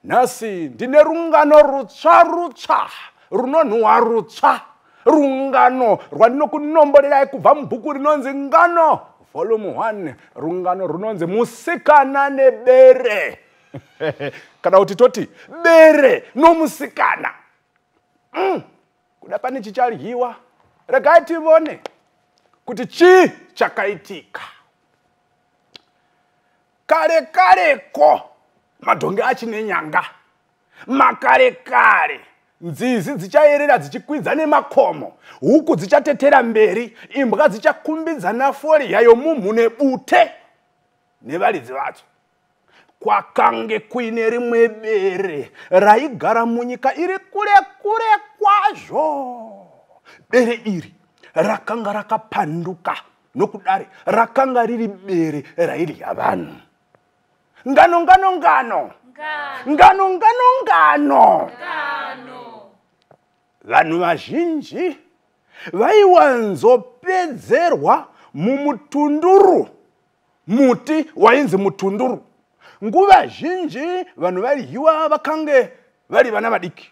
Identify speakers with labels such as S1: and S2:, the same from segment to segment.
S1: nhasi ndine rungano rutsva rutsva runonhuwa rutsva rungano rwandinokunomborerai kubva mubhuku rinonzi ngano volume 1 rungano runonzi musikana nebere kana kuti toti bere nomusikana mm. kuda pane chichadyiwa regai tivone kuti chii chakaitika kare kare ko madhongi achine nyanga makare kare nzizi dzichayerera dzichikwidza nemakomo huku dzichatetera mberi imbwa dzichakumbidza nafori yayo mumhu nebute nevaridzi vadzo kwakange kuine rimwe bere raigara munyika iri kure kure kwazvo bere iri rakanga rakapanduka nokudare rakanga riri bere raidya vanhu ngano ngano ngano ngano ngano ngano vanhu vazhinji vaiwanzopedzerwa mumutunduru muti wainzi mutunduru nguva zhinji vanhu vaidyiwa vakange vari vana vadiki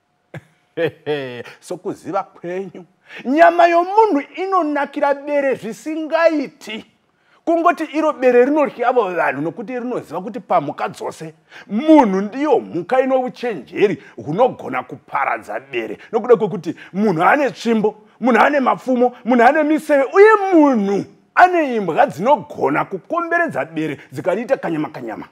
S1: sokuziva kwenyu nyama yomunhu inonakira bere zvisingaiti kungoti iro bere rinoryavo vanhu nokuti rinoziva kuti pamhuka dzose munhu ndiyo mhuka ino uchenjeri hunogona kuparadza bere nokuda kwekuti munhu ane tsvimbo munhu ane mapfumo munhu ane miseve uye munhu ane imbwa dzinogona kukomberedza bere dzikariita kanyama kanyama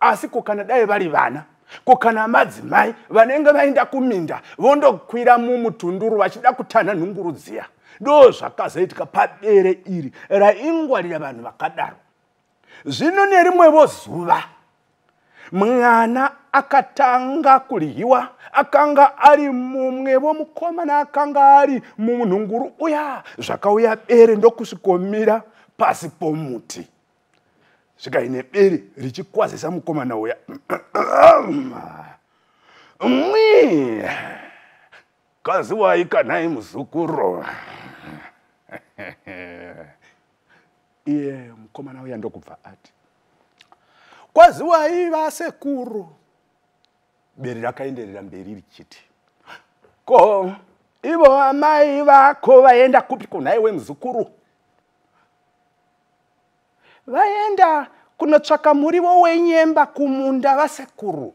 S1: asi ko kana dai vari vana ko kana madzimai vanenge vaenda kuminda vondokwira mumutunduru vachida kutanha nhunguru dziya do zvakazoitika padere iri raingwarira vanhu vakadaro zvino nerimwevo zuva mwana akatanga kudyiwa akanga ari mumwevo mukomana akanga ari munhunguru uya zvakauya bere ndokusvikomira pasi pomuti svika ine bere richikwazisa mukomana uya mwi kaziwai kanai muzukuru iye mukomana uya ndokubva ati kwaziwai vasekuru bere rakaenderera mberi richiti ko ivo amai vako vaenda kupi kunhai wemuzukuru vaenda kunotsvaka murivo wenyemba kumunda vasekuru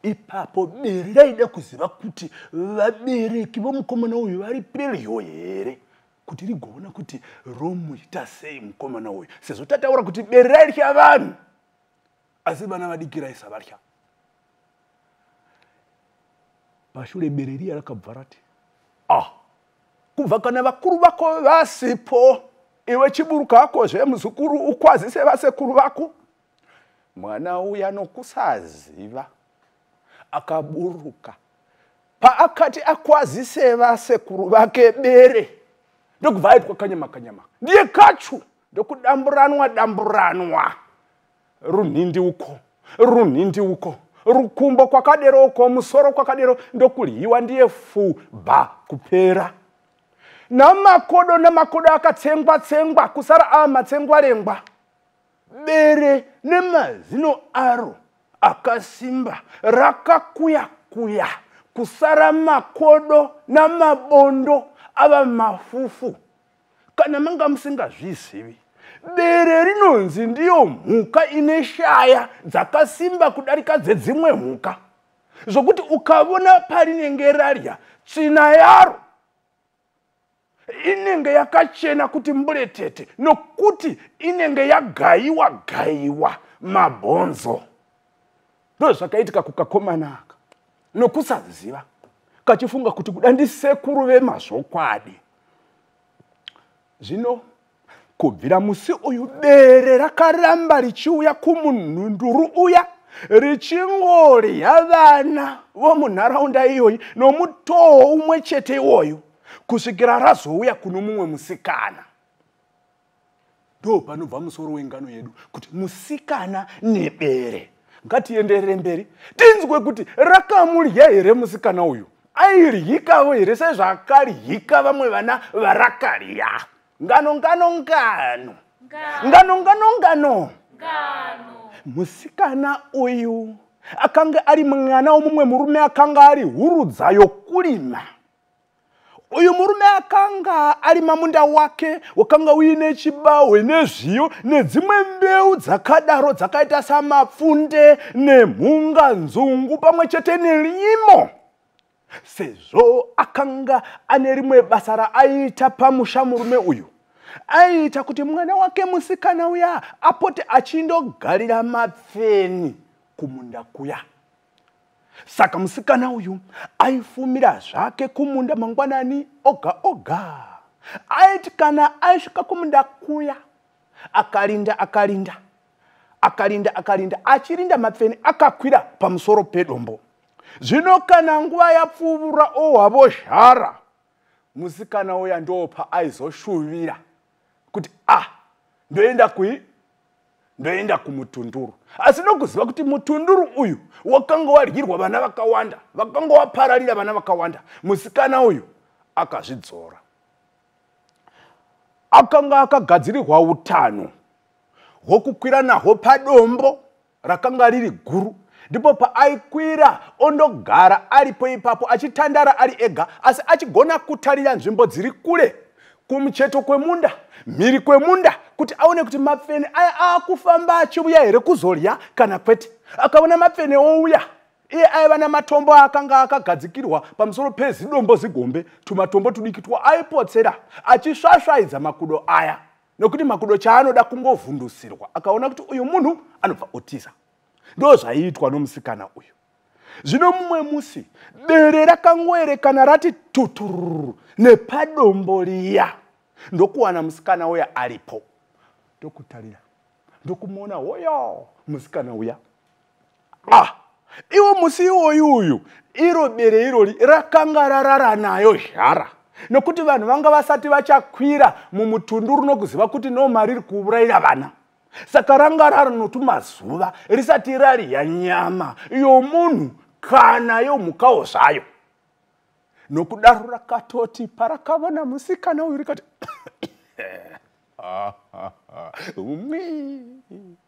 S1: ipapo bere raida kuziva kuti vabereki vomukomana uyu vari pedyo here kuti rigoona kuti romuita sei mukomana uyu sezvo tataura kuti bere raitya vanhu asi vana vadiki raisavatya pashure bere riya rakabva rati ah kubva kana vakuru vako vasipo iwe chiburuka hako zvemuzukuru ukwazise vasekuru vako mwana uya nokusaziva akaburuka paakati akwazise vasekuru vake bere ndokubva aitwa kanyama kanyama ndiye kachu ndokudamburanwa damburanwa runhindi uko runhindi uko rukumbo kwakadero uko musoro kwakadero ndokuryiwa ndiye fu ba kupera namakodo namakodo akatsengwa tsengwa kusara ava matsengwarengwa bere nemazino aro akasimba rakakuya kuya kusara makodo namabondo ava mafufu kana manga musingazvizivi bere rinonzi ndiyo mhuka ine shaya dzakasimba kudarika dzedzimwe mhuka zvokuti ukavona parinenge rarya tsvina yaro inenge yakachena kuti mburetete nokuti inenge yagayiwa gayiwa mabhonzo ndozvakaitika kukakomana aka nokusaziva kachifunga kuti kuda ndisekuru vemazvokwadi zvino kubvira musi uyu bere rakaramba richiuya kumunhunduru uya richingorya vana vomunharaunda iyoyi nomutoo umwe chete iwoyu kusvikira razouya kuno mumwe musikana ndo panobva musoro wengano yedu kuti musikana nebere ngatienderere mberi tinzwe kuti rakamurya here musikana uyu airyikawo here sezvakaryika vamwe vana varakarya ngano ngano ngano ngano ngano ngano musikana uyu akanga ari mwana womumwe murume akanga ari hurudza yokurima uyu murume akanga ari mamunda wake wakanga uine chibahwe nezviyo nedzimwe mbeu dzakadaro dzakaita samapfunde nemhunga nzungu pamwe chete nerimo sezvo akanga ane rimwe basa raaiita pamusha murume uyu aiita kuti mwana wake musikana uya apote achindogarira mapfeni kumunda kuya saka musikana uyu aifumira zvake kumunda mangwanani oga oga aiti kana aisvika kumunda kuya akarinda akarinda akarinda akarinda achirinda mapfeni akakwira pamusoro pedombo zvino kana nguva yapfuvura ohwavo zhara musikana uya ndopa aizoshuvira kuti a ah, ndoenda kui ndoenda kumutunduru asi nokuziva kuti mutunduru uyu wakanga wadyirwa vana vakawanda vakanga wapararira vana vakawanda musikana uyu akazvidzora akanga akagadzirirwa utano hwokukwira nahwo padombo rakanga riri guru ndipo paaikwira ondogara aripo ipapo achitandara ari ega asi achigona kutarira nzvimbo dziri kure kumucheto kwemunda mhiri kwemunda kuti aone kuti mapfene aya aakufamba achiuya here kuzodya kana kwete akaona mapfene ouya iye aiva namatombo aakanga akagadzikirwa pamusoro pezidombo zigombe tumatombo tudiki twaayipotsera achisvasvaidza makudo aya nokuti makudo chaanoda kungovhundusirwa akaona kuti uyu munhu anobva otiza ndo zvaiitwa nomusikana uyu zvino mumwe musi bere rakangoerekana rati tutururu nepadombo riya ndokuwana musikana uya aripo ndokutarira ndokumuona hoyo musikana uya ah iwo musi iwoyu uyu iro bere irori rakanga rarara nayo zhara nokuti vanhu vanga vasati vachakwira mumutundu runokuziva kuti noma riri kuurayira vana saka ranga rari notumazuva risati rariya nyama yomunhu kana yomhukawo zvayo nokudaro rakatoti parakavona musikana uyu rikati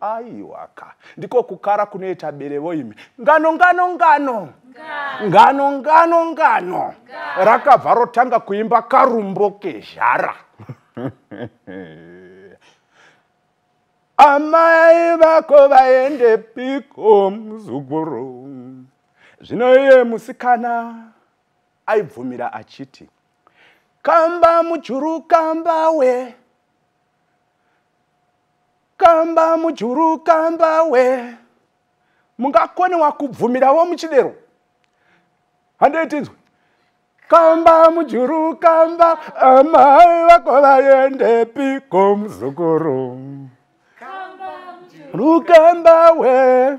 S1: aiwaka ndiko kukara kunoita berevo imi ngano ngano ngano ngano ngano ngano rakabva rotanga kuimba karumbo kezhara amai vako vaende piko muzukuru zvino iye musikana aibvumira achiti kamba mujuru kamba we kamba mujuru kamba we mungakonewa kubvumirawo muchidero handei tinzwe kamba mujuru kamba amai vako vaende piko muzukuru rukamba we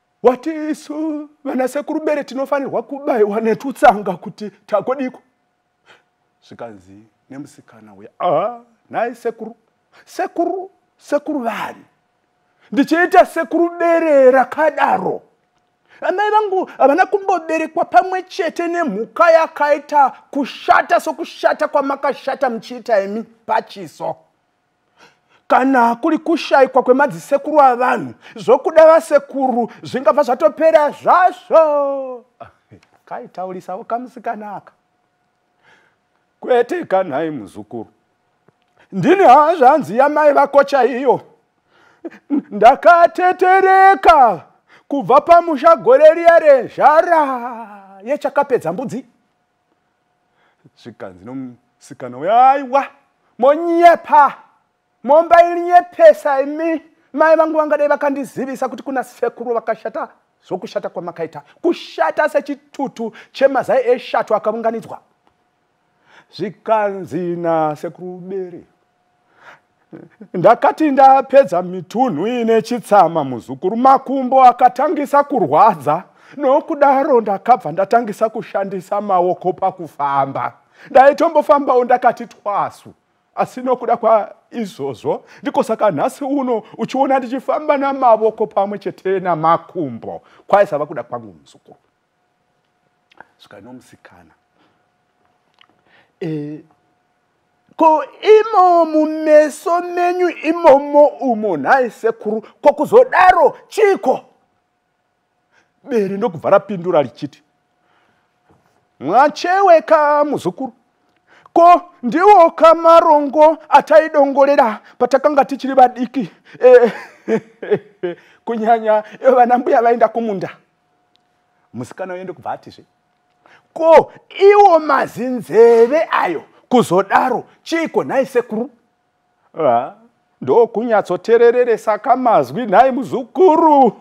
S1: wati isu vana sekuru bere tinofanirwa kubaiwa netutsanga kuti takodiko zvikanzi nemusikana uya aa nhai sekuru sekuru sekuru vani ndichiita sekuru bere rakadaro amai vangu havana kumboberekwa pamwe chete nemhuka yakaita kushata sokushata kwamakashata muchiita imi pachiso kana kuri kushaikwa kwemadzisekuru avanhu zvokuda vasekuru zvingabva zvatopera zvazvo kaitaurisawo kamusikanaka kwete kanhai muzukuru ndini hazvanzi yamai vako chaiyo ndakatetereka kubva pamusha gore riya rezhara yechakapedza mbudzi zvikanzi nomusikana uyo aiwa monyepa momba ilinyepesa imi mai vangu vangadai vakandizivisa kuti kuna sekuru vakashata zvokushata kwamakaita kushata sechitutu chemazai eshato akaunganidzwa zvikanzi nasekuru bere ndakati ndapedza mitunhu ine chitsama muzukuru makumbo akatangisa kurwadza nokudaro ndakabva ndatangisa kushandisa maoko pakufamba ndaitombofambawo ndakati twasu asi nokuda kwaizvozvo ndiko saka nhasi uno uchiona ndichifamba namavoko pamwe chete namakumbo kwaisava kuda kwangu muzukuru svika nomusikana e, ko imo mumeso menyu imomo umo nhai sekuru ko kuzodaro chiko bere ndokubva rapindura richiti mwacheweka muzukuru ko ndiwo kamarongo ataidongorera patakanga tichiri vadiki e, kunyanya vana mbuya vaenda kumunda musikana uyo ndokubva atizve ko iwo mazinzeve ayo kuzodaro chiiko nhai sekuru ah, ndokunyatsoterereresa kamazwi nhai muzukuru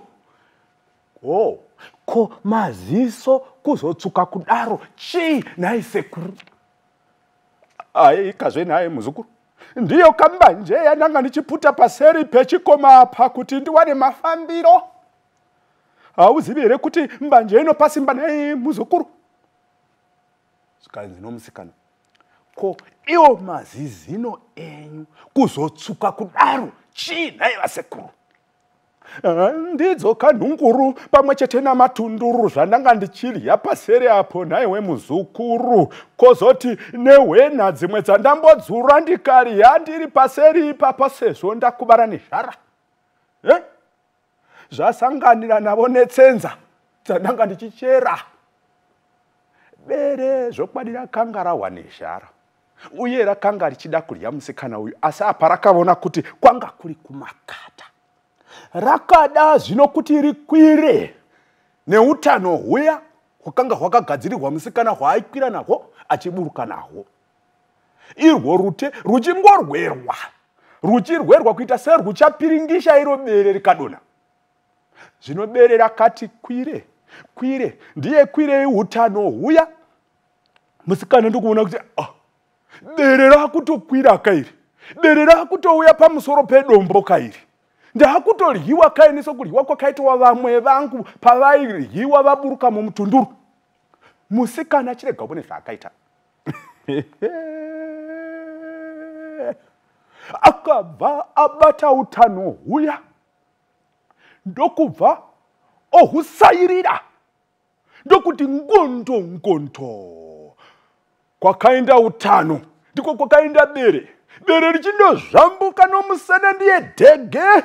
S1: oh ko maziso kuzotsuka kudaro chii nhai sekuru aikazve nhai muzukuru ndiyo kambanje yandanga ndichiputa paseri pechikoma apa kuti ndiwane mafambiro hauzivi here kuti mbanje inopa simba naye muzukuru zvikanzi nomusikana ko iwo mazizino enyu kuzotsvuka kudaro chii nhai vasekuru ah, ndidzo kanhunguru pamwe chete namatunduru zvandanga ndichidya paseri apo nhai wemuzukuru kozoti nehwena dzimwe dzandambodzura ndikadya ndiri paseri ipapa sezvo ndakubara nezvara eh? zvasanganira navo netsenza dzandanga ndichichera bere zvokwadi rakanga rahwa nezhara uye rakanga richida kudya musikana uyu asi apa rakavona kuti kwanga kuri kumakata rakada zvino kuti rikwire neutano huya hwakanga hwakagadzirirwa musikana hwaaikwira nahwo achiburuka nahwo irwo rute ruchingorwerwa ruchirwerwa kuita serwuchapiringisha iro bere rikadona zvino bere rakati kwire kwire ndiye kwirei utano huya musikana ndokuona kuti oh, bere rakutokwira kairi bere rakutouya pamusoro pedombo kairi ndakutodyiwa kaini sokudyiwa kwakaitwa vamwe vangu pavaidyiwa vaburuka mumutunduru musikana chirega ubone zvaakaita akabva abata utano huya ndokubva ohusairira ndokuti ngondo ngondo kwakaenda utano ndiko kwakaenda bere bere richindozvambuka nomusana ndiye dhege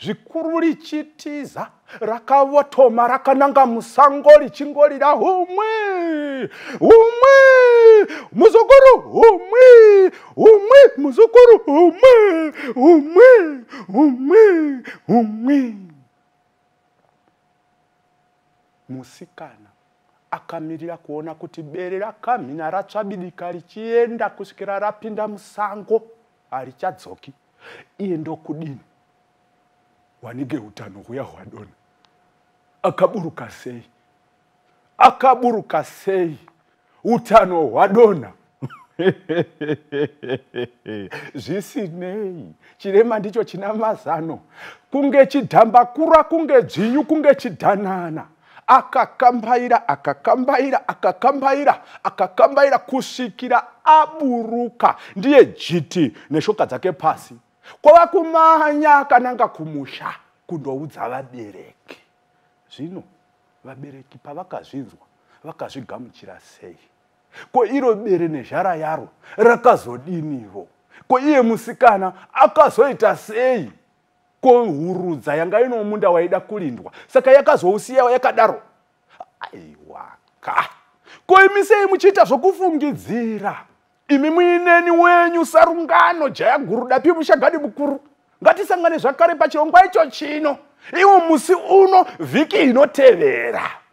S1: zvikuru richitiza rakavotoma rakananga musango richingorira humwe humwe muzukuru humwe humwe muzukuru humwe humwe humwe humwe musikana akamirira kuona kuti bere rakamhina ratsvabidika richienda kusvikira rapinda musango harichadzoki iye ndokudini wanige utano huya hwadona akaburuka sei akaburuka sei utano hwadona zvisinei chirema ndicho china mazano kunge chidhambakura kunge dzvinyu kunge chidhanana akakambaira akakambaira akakambaira akakambaira kusvikira aburuka ndiye jiti neshoka dzake pasi kwava kumanya akananga kumusha kundoudza vabereki zvino vabereki pavakazvinzwa vakazvigamuchira sei ko iro bere nezhara yaro rakazodinivo ko iye musikana akazoita sei ko hurudza yanga ino munda waida kulindwa saka yakazousiya yakadaro aiwaka ko imi sei muchiita zvokufungidzira imi muineni wenyu sarungano jaya guru dapi mushagadi mukuru ngatisangane zvakare pachirongwa icho chino iwo musi uno vhiki inotevera